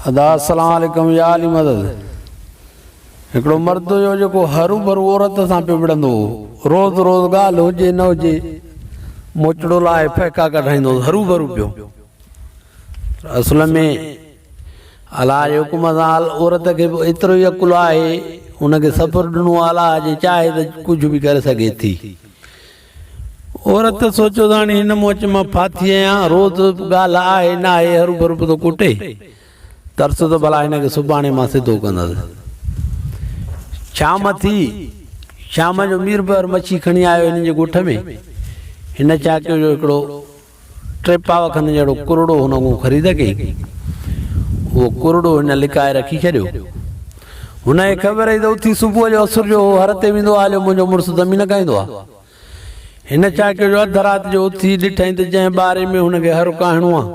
ادا السلام عليڪم يا علي مدد هڪڙو مرد هيو جيڪو هرو برو عورت سان پي وڙندو هو روز روز ڳالهه هجي نه هجي موچڙو لاء پهڪا ڪڍائيندو هو هرو برو پيو اصل ۾ الا جي حڪم سان عورت کي به ايترو ئي عقل آهي ان کي صبر ڏنو الا جي چاهي ته ڪجهه به ڪري سگهي ٿي عورت سوچيو ته هاڻي هن موچ مان ڦاٿي آهيان، روز ڳالهه آهي ناهي هروڀرو به ٿو ڪٽي، ترس ته ڀلا هن کي سڀاڻي مان سڌو ڪندس. شام ٿي، شام جو ميربحر مڇي کڻي آيو هنن جي ڳوٺ ۾، هن ڇا ڪيو جو هڪڙو ٽي پاء کن جهڙو ڪرڙو هن اڳون خريد ڪئي. اهو ڪرڙو هن لڪائي رکي ڇڏيو. هن کي خبر هئي ته اٿي صبح جو اسر جو هو هر تي ويندو آهي جو منهنجو مڙس دمي نه کائيندو آهي. هن ڇا ڪيو جو اڌ رات جو اٿي ڏٺائين ته جنهن ٻاري ۾ هن کي هرو ڪاهڻو آهي،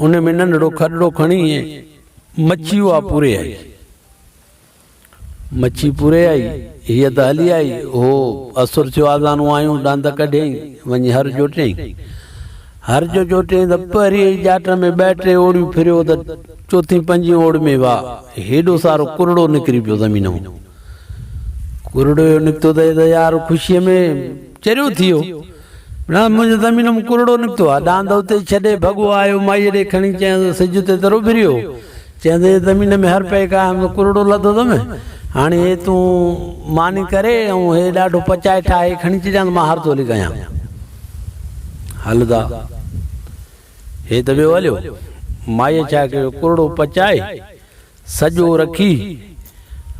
ان ۾ ننڍڙو کڏڙو کڻي ۽ مڇي اها پوري آئي. مڇي پوري آئي، هيء ته هلي آئي. هو اسر ٿيو آزانو آيون ڏند ڪڍيائين، وڃي هر جوٽيائين. هر جو جوٽيائين ته پهرينء ئي ڄاٽ ۾ ٻه ٽي اوڙيون ڦريو ته چوٿين پنجين اوڙ ۾ واء هيڏو سارو ڪرڙو نڪري پيو زمين مئن ڪرڙو نڪتو ته هي ته يار خوشيء ۾ چريو ٿي ويو. نه منهنجو زمين ۾ ڪرڙو نڪتو آ. ڏاند اتي ڇڏي ڀڳو آيو. مائيء ڏي کڻي چيائينس ته سج اتي تر اڀريو. چيائينس اي زمين ۾ هر پئي کائي همزو ڪرڙو لڌو ٿم. هاڻي هي تون ماني ڪري ۽ هي ڏاڍو پچائي ٺاهي کڻي چڏيانس مان هر ٿولي ڪيان. هل دا. هي ته ويو هليو. مائيء ڇا ڪيو ڪرڙو پچائي سڄو رکي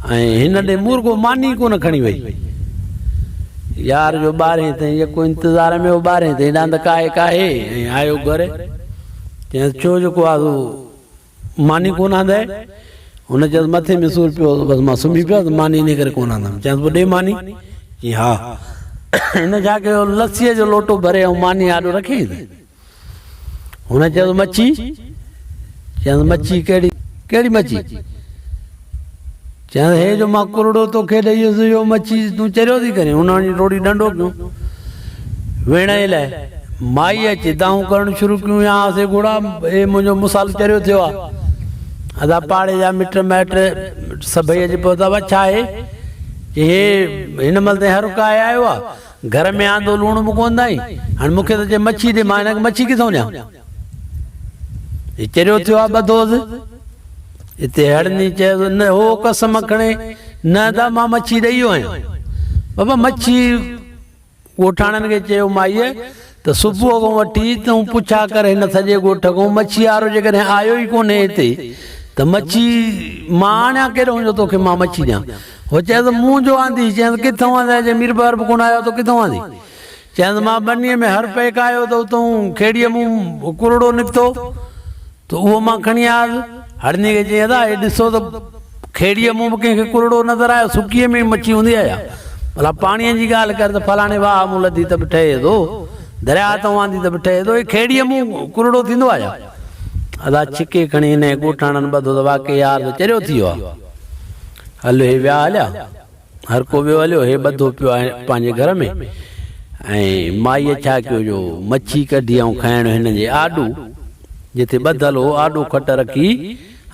۽ هن ڏي مون رڳو ماني ئي ڪونه کڻي وئي. يار جو ٻارهين تائين يڪو انتظار ۾ هو ٻارهين تائين ڏاند ڪاهي ڪاهي ۽ آيو گهر. چيس ڇو جيڪو آ سو ماني ڪونه آندئي؟ هن چيس مٿي ۾ سور پيو هو بس مان سمهي پيس ماني انهي ڪري ڪونه آندم. چيس پوء ڏي ماني. چيائين ها. هن ڇا ڪيو لسيء جو لوٽو ڀري ۽ ماني آڏو رکيائين ته. هن چيس، مڇي؟ چيس، مڇي ڪهڙي؟ ڪهڙي مڇي؟ چيس، هي جو مان ڪرڙو توکي ڏئي ويس، اهو مڇي تون چريو ٿي ڪرين؟ هن وڃي ٽوڙي ڏنڊو ڪيو. ويڙهڻ لاء مائي اچي دانهون ڪرڻ شروع ڪيون، يا آسي گهوڙا، هي منهنجو مصال چريو ٿيو آهي. ادا پاڙي جا مٽ مائٽ سڀئي اچي پهتا، وا ڇا هي؟ چي، هي هن مهل تائين هرڪا آيا آهيو ها؟ گهر ۾ آندو لوڻ به ڪونه ڏانهين، هاڻي مون کي ته چئه مڇي ڏي، مان هن کي مڇي ڪٿئون ڏيان؟ هي چريو ٿيو آهي ٻڌوس. اتي هڙني چيس، نه هو قسم کڻي، نه ادا مان مڇي ڏيئي ويو آهيان. بابا مڇي ڳوٺاڻن کي چيو مائيء، ته صبح کان وٺي تون پڇا ڪر هن سڄي ڳوٺ کان مڇي وارو جيڪڏهن آيو ئي ڪونهي هتي ته مڇي مان آڻيان ڪيڏانهن جو توکي مان مڇي ڏيان هو چيس مون جو آندي چيس ڪٿان آندي جي مير بهار به ڪونه آيو تو ڪٿان آندي چيس مان ٻنيء ۾ هر پيڪ آيو ته اتان کيڙيء مون ڪرڙو نڪتو ته اهو مان کڻي آيس. هڙني کي چيائين، ادا، هي ڏسو ته کيڙيء مون به ڪنهن کي ڪرڙو نظر آيو، سڪيء ۾ ئي مڇي هوندي آهي ها. ڀلا پاڻيء جي ڳالهه ڪر ته فلاڻي واهه مون لڌي ته به ٺهي ٿو، درياء تان واندي ته به ٺهي ٿو، هي کيڙيء مون ڪرڙو ٿيندو آهي ها. ادا، ڇڪي کڻي هن ڳوٺاڻن ٻڌو ته واقعي يار ته چريو ٿي ويو آهي. هل، هي ويا هليا. هر ڪو ويو هليو هي ٻڌو پيو آهي پنهنجي گهر ۾ ۽ مائيء ڇا ڪيو جو مڇي ڪڍي ۽ کائڻ هن جي آڏو جتي ٻڌل هو آڏو کٽ رکي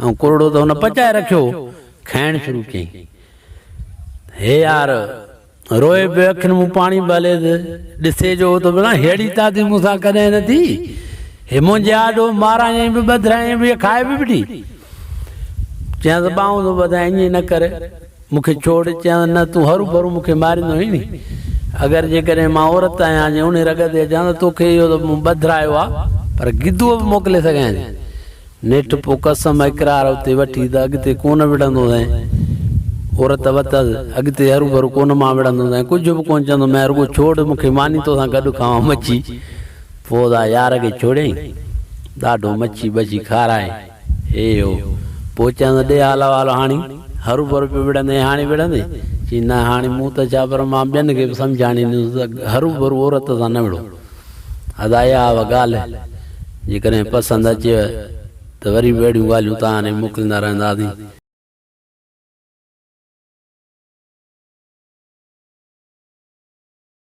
۽ ڪرڙو ته هن پچائي رکيو هو کائڻ شروع ڪيائين هي يار روئي پيو اکين مون پاڻي به هلي ته ڏسي جو ته بنا هيڙي تاتي مون سان ڪڏهن نه ٿي هي منهنجي آڏو مارائين به ٻڌرائين به کائي به ڏي چيانس ٻانهون ٿو ٻڌائين ائين نه ڪر مون کي ڇوڙ، چيائون، نه، تون هروڀرو مون کي ماريندو هئين ني. اگر جيڪڏهن مان عورت آهيان جي اونهي رڳ تي اچان ته تو کي اهو ته مون ٻڌرايو آ، پر گدوء به موڪلي سگهيان ٿي. نيٺ پوء قسم اقرار اتي وٺي ته اڳتي ڪونه وڙهندوسين. عورت وتس، اڳتي هروڀرو ڪونه مان وڙهندوسين، ڪجهه به ڪونه چوندومانء، رڳو ڇوڙ مون کي ماني توسان گڏ کائون مڇي. پوء ادا يار کي ڇوڙيائين. ڏاڍو مڇي ٻڇي کارائي. هي هو، پوء چيائونس، ڏي آلا والا هاڻي. هروڀرو پيو وڙهندين، هاڻي وڙهندين؟ چيائين، نه هاڻي مون ته ڇا پر مان ٻين کي به سمجهاڻي ڏيندس ته هروڀرو عورت سان نه وڙهو. ادا اها هئا ڳالهه، جيڪڏهن پسند اچيو ته وري به اهڙيون ڳالهيون توهان ڏي موڪليندا رهنداسين.